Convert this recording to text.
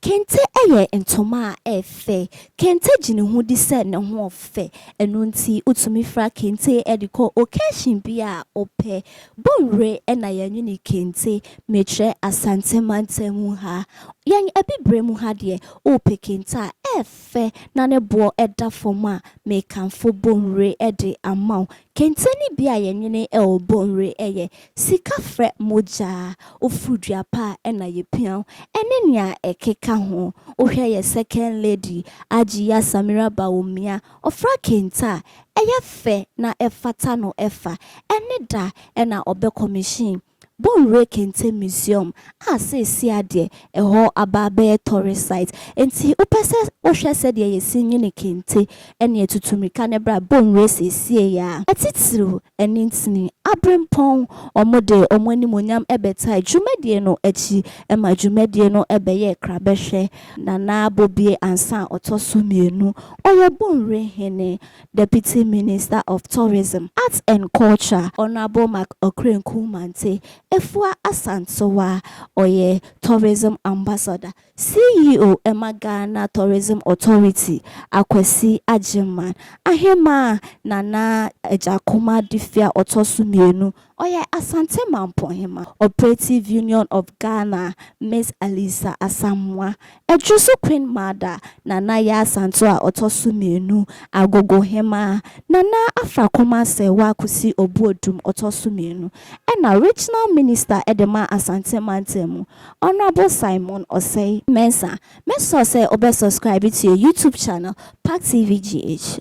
Kente yɛ ntoma a ɛyɛ fɛ. Kente gye ne ho di sɛ ne ho fɛ. Ɛno nti wotumi fira kente de kɔ occasion biara a wopɛ. Bonwire na yɛnwene kente. Mekyerɛ Asante mantam mu ha. Yɛn Abibire mu ha deɛ, wopɛ kente a, ɛyɛ fɛ na ne boɔ da fam a, mekamfo Bonwire de ama wo. Kente no bi a yɛnwene wɔ Bonwire yɛ Sika frɛ mogya, woforo dua pa a ɛna yɛ pia wo ɛne nea ɛkeka ho. Wohwɛ yɛ second lady Ajiya Samira Bawumia, ɔfra kente a ɛyɛ fɛ na ɛfata no ɛfa, ɛne da ɛna ɔbɛ commission Bonwire Kente Museum a seesia deɛ ɛhɔ aba abɛyɛ tourist site. Enti wopɛ sɛ wohwɛ sɛdeɛ yɛsi nwene kente ɛne atutu mirika no ɛberɛ a Bonwire seesieɛ a, ɛtitiriw Ɛno nti, aberempɔn wɔde wɔn animuonyam bɛtae dwumadie no akyi ma dwumadie no bɛyɛɛ krabɛhwɛ. Nana Bobie Ansah a ɔtɔ so mmienu, ɔyɛ Bonwire Hene, Deputy Minister of Tourism, Arts and Culture, Honourable Mark Okrenku Mante, Afua Asantewaa, ɔyɛ Tourism Ambassador. CEO ma Ghana Tourism Authority, Akwasi Agyemang, Ahemaa Nana Agyakoma Duffe a ɔtɔ so mmienu, ɔyɛ Asante Mampohema Operative Union of Ghana, Miss Alisa Asamoah, Adwo so Queen Mother, Nana Yaa Santo a ɔtɔ so mmienu, Agogohema, Nana Afra Komah Serwaa Kusi Obuodum, ɔtɔ so mmienu, ɛna Regional Minister de ma Asante Mantam mu. Honourable Simon Osei Mensah me sɔ sɛ wo bɛ subscribe to your YouTube channel Pack TV GH.